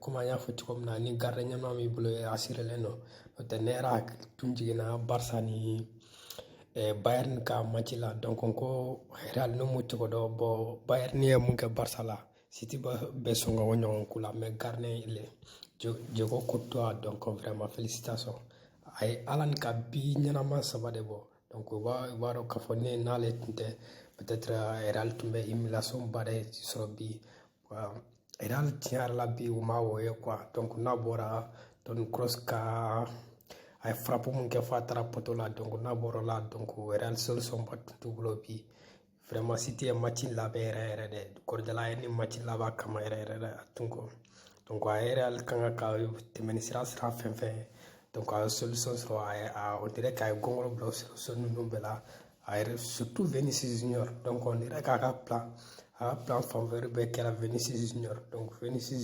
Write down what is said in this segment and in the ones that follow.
komi an y'a fɔ cogo min na ni garidɛ ɲɛnama b'i bolo assurélen don n'o tɛ ne yɛrɛ hakili tun jiginna barisa ni bayɛri ka mati la ko Real n'u m'u cogo dɔn bayɛri ye mun kɛ barisa la siti bɛ sɔn ka o ɲɔgɔn k'u la mɛ garidɛ le Diego Courtois donc vraiment félicitations a ye Haaland ka bi ɲɛnama saba de bɔ o b'a i b'a dɔn k'a fɔ ne n'ale tun tɛ peut-être Real tun bɛ humiliation ba de sɔrɔ bi A yira la tiɲɛ yɛrɛ la bi u ma o ye n'a bɔra cross ka a ye farapo mun kɛ f'a taara poto la n'a bɔra la ba t'u bolo bi mati labɛn yɛrɛ yɛrɛ dɛ kɔrɔdala ye ni mati laban kama yɛrɛ yɛrɛ dɛ a tun kɔ a yɛrɛ hali kan ka tɛmɛ ni sira sira fɛn fɛn a ye sɔrɔ a ye a ka ye gɔngɔn bila sɔn ninnu bɛɛ la a yɛrɛ surutu junior ne yɛrɛ k'a ka plan a ka plan fan wɛrɛ bɛɛ kɛra junior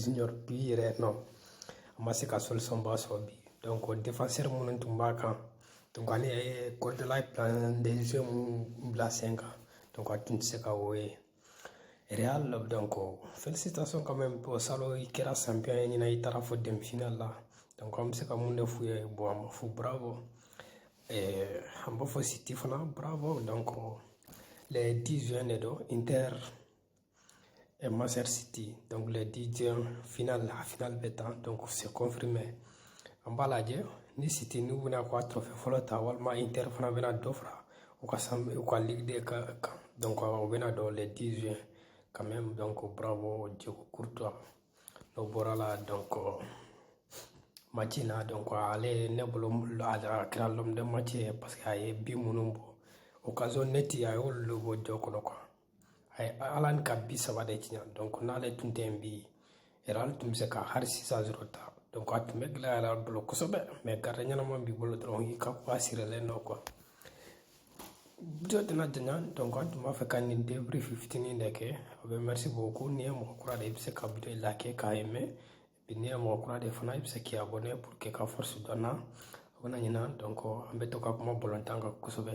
junior bi yɛrɛ nɔ a ma se ka ba sɔrɔ bi defenseur minnu tun b'a kan ale ye kɔrɔdala plan minnu bila sen kan a tun tɛ se ka o ye Real la donc félicitations quand même pour salon i kɛra champion ye ɲinan i taara fo demi final la donc an bɛ se ka mun de f'u ye bon an b'a fɔ bravo an b'a fɔ siti fana bravo donc le 10 juin de don inter et Manchester City donc le 10 juin final la final bɛ tan donc c'est confirmé an b'a lajɛ ni siti n'u bɛna k'a trophée fɔlɔ ta walima inter fana bɛna dɔ fara u ka san u ka ligue des ka kan donc o bɛna dɔn le 10 juin quand même donc bravo Diego Courtois n'o bɔra la donc match in na donc ale ne bolo a kɛra l'homme de match ye parce que a ye bi minnu bɔ occasion neti a y'olu le bɔ jɔ kɔnɔ quoi a ye Haaland ka bi saba de tiɲɛ donc n'ale tun tɛ yen bi Real tun bɛ se ka hali six zéro ta donc a tun bɛ gɛlɛya Real bolo kosɛbɛ mɛ garidɛ ɲɛnama b'i bolo dɔrɔn i ka ko assurélen don quoi donc a tɛna janya donc an tun b'a fɛ ka nin debrief fitinin de kɛ a bɛɛ merci beaucoup n'i ye mɔgɔ kura de i bɛ se ka video liker k'a aimer n'i ye mɔgɔ kura de fana i bɛ se k'i abonné pour que ka force don an na a bɛna ɲinan donc an bɛ to ka kuma balɔntan kan kosɛbɛ